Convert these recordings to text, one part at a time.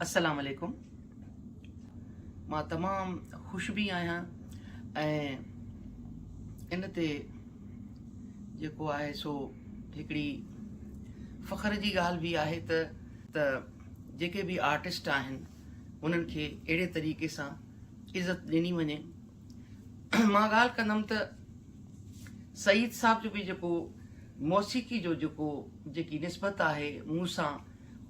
السلام عليڪم مان تمام خوش به آهيان ۽ ان تي جيڪو آهي سو هڪڙي فخر جي ڳالهه به آهي ته ته جيڪي به آرٽسٽ آهن انهن کي اهڙي طريقي سان عزت ڏني وڃي مان ڳالهه ڪندم ته سعيد صاحب جو به جيڪو موسيقي جو جيڪو جيڪي نسبت آهي مون سان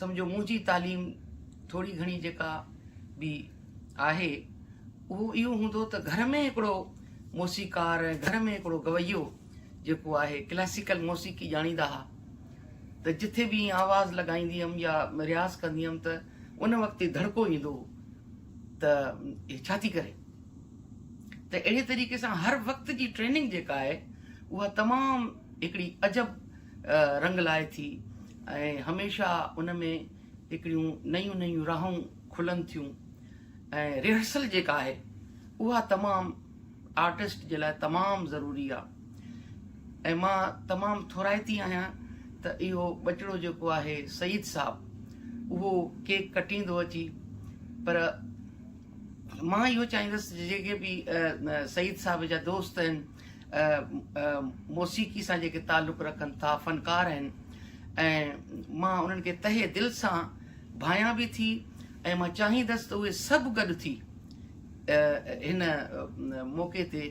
سمجهو منهنجي تعليم ٿوري گهڻي جيڪا به آهي اهو اهو هوندو ته گهر ۾ هڪڙو موسيقار ۽ گهر ۾ هڪڙو گويو جيڪو آهي ڪلاسيڪل موسيقي ڄاڻيندا ها ته جٿي به ائين آواز لڳائيندي هيم يا رياض ڪندي هيم ته ان وقت ڌڙڪو ايندو هو ته هي ڇا ٿي ڪري ته اهڙي طريقي سان هر وقت جي ٽريننگ جيڪا آهي اها تمام هڪڙي عجب رنگ لائي ٿي ۽ هميشه ان ۾ هڪڙيون نيون نيون راهون کلن ٿيون ۽ ريهرسل جيڪا آهي اها تمام آرٽسٽ جي لاء تمام ضروري آهي ۽ مان تمام ٿورائتي آهيان ته اهو ٻچڙو جيڪو آهي سعيد صاحب اهو ڪيڪ ڪٽيندو اچي پر مان اهو چاهيندس جيڪي به سعيد صاحب جا دوست آهن موسيقي سان جيڪي تعلق رکن ٿا فنڪار آهن ۽ مان انهن کي تهه دل سان ڀانيان به ٿي ۽ مان چاهيندس ته اهي سڀ گڏ ٿي هن موقعي تي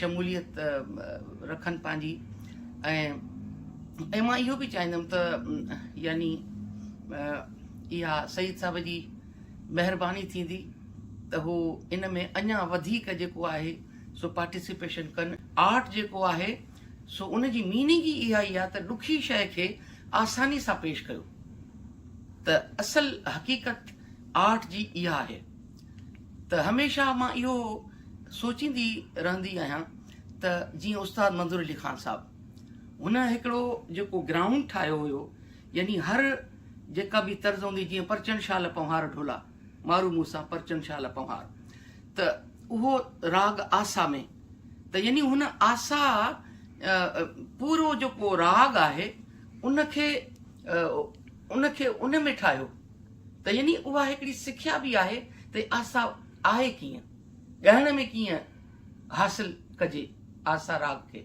شموليت رکن پنهنجي ۽ مان اهو به چاهيندم ته يعني اها سيد صاحب جي مهرباني ٿيندي ته هو ان ۾ اڃا وڌيڪ جيڪو آهي سو پارٽيسيپيشن ڪن. آرٽ جيڪو آهي سو ان جي ميننگ ئي اها ئي آهي ته ڏکي شيء کي آساني سان پيش ڪيو ته اصل حقيقت آرٽ جي اها آهي ته هميشه مان اهو سوچيندي رهندي آهيان ته جيئن استاد منظور علي خان صاحب هن هڪڙو جيڪو گرائونڊ ٺاهيو هيو يعني هر جيڪا به طرز هوندي جيئن پرچڻ شال پنهوار ڍولا مارو مون سان پرچن شال پنهار ته اهو راڳ آسا ۾ ته يعني هن آسا پورو جيڪو راڳ آهي ان کي ان کي ان ۾ ٺاهيو ته يعني اها هڪڙي سکيا به آهي ته آسا آهي ڪيئن ڳائڻ ۾ ڪيئن حاصل ڪجي آسا راڳ کي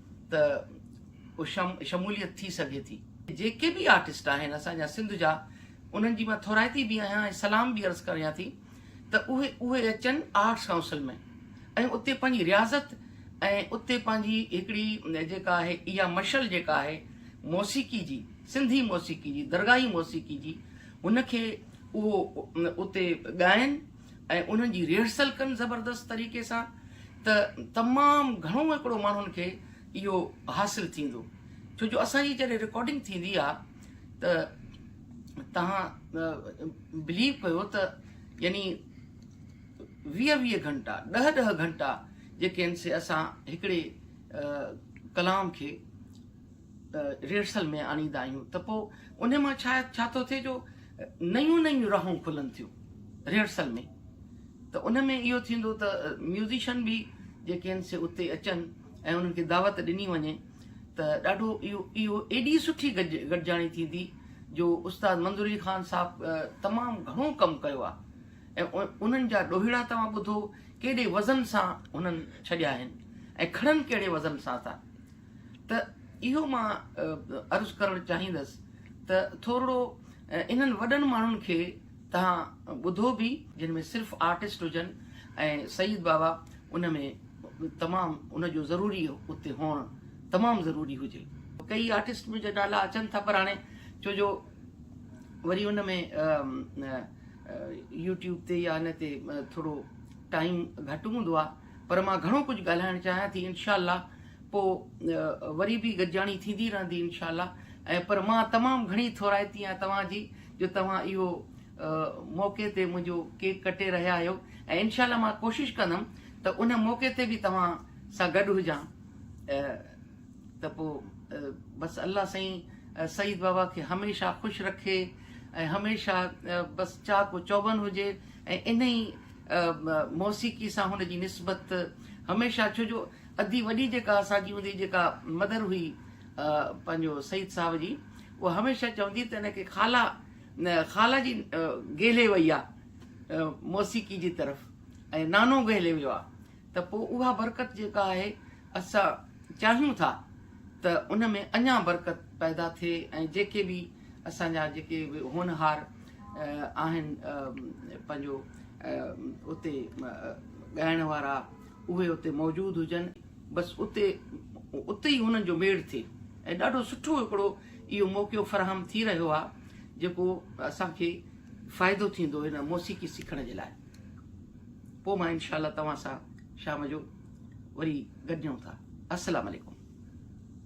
ته شموليت ٿي سگهي ٿي. جيڪي به آرٽسٽ آهن اسان جا سنڌ جا انهن جي مان ٿورائتي به آهيان ۽ سلام به عرض ڪريان ٿي ته اهي اهي اچن آرٽس ڪائونسل ۾ ۽ اتي پنهنجي رياضت ۽ اتي پنهنجي هڪڙي جيڪا آهي اها مشعل جيڪا آهي موسيقي جي سنڌي موسيقي جي درگاهي موسيقي جي ان کي اهو اتي ڳائن. ۽ انهن جي ريهرسل ڪن زبردست طريقي سان ته تمام گهڻو هڪڙو ماڻهن کي اهو حاصل ٿيندو ڇو جو اسان جي جڏهن رڪارڊنگ ٿيندي آ ته تهان بليو ڪيو ته يعني ويهه ويهه گهنٽا ڏهه ڏهه گهنٽا جيڪي آهن سي اسان هڪڙي ڪلام کي ريهرسل ۾ آڻيندا آهيون ته پوء ان مان شايد ڇا ٿو ٿئي جو نيون نيون راهون کلن ٿيون ريهرسل ۾ ته ان ۾ اهو ٿيندو ته ميوزيشن به جيڪي آهن سي اتي اچن ۽ انهن کي دعوت ڏني وڃي ته ڏاڍو اهو اهو ايڏي سٺي گڏ گڏجاڻي ٿيندي جو استاد منظور علي خان صاحب تمام گهڻو ڪم ڪيو آهي انهن جا ڏوهيڙا توهان ٻڌو ڪيڏي وزن سان انهن ڇڏيا آهن ۽ کڙن ڪهڙي وزن سان ٿا ته اهو مان عرض ڪرڻ چاهيندس ته ٿورڙو انهن وڏن ماڻهن کي توهان ٻڌو به. جن ۾ صرف آرٽسٽ هجن ۽ سيد بابا ان ۾ تمام ان جو ضروري اتي هئڻ تمام ضروري هجي. ڪيئي آرٽسٽ به جا نالا اچن ٿا پر هاڻي ڇو جو وري ان ۾ يوٽيوب تي يا ان تي ٿورڙو ٽائيم گهٽ هوندو آهي. پر مان گهڻو ڪجهه ڳالهائڻ چاهيان ٿي انشاء الله پو وري به گڏجاڻي ٿيندي رهندي انشاء الله ۽ پر مان تمام گهڻي ٿورائتي آهيان توهان جي جو توهان اهو موقعي تي منهنجو ڪيڪ ڪٽي رهيا آهيو ۽ انشاء الله مان ڪوشش ڪندم ته ان موقعي تي به توهان سان گڏ هجان ته پو بس الله سائين سعيد بابا کي هميشه خوش رکي ۽ هميشه بس چاڪو چوبن هجي ۽ انهي موسيقي سان هن جي نسبت هميشه ڇو جو ادي وڏي جيڪا اسان جي هوندي جيڪا مدر هئي پنهنجو سعيد صاحب جي اها هميشه چوندي ته هن کي خالا خالا جي گهلي وئي آهي موسيقي جي طرف ۽ نانو گهلي ويو آهي ته پوء اها برڪت جيڪا آهي اسان چاهيون ٿا ته ان ۾ اڃا برڪت پيدا ٿئي ۽ جيڪي به اسان جا جيڪي به هونهار آهن پنهنجو اتي ڳائڻ وارا اهي اتي موجود هجن بس اتي اتي ئي انهن جو ميڙ ٿئي ۽ ڏاڍو سٺو هڪڙو اهو موقعو فراهم ٿي رهيو آهي جيڪو اسان کي فائدو ٿيندو هن موسيقي سکڻ جي لاء پوء مان انشاء الله توهان سان شام جو وري گڏجون ٿا السلام عليڪم.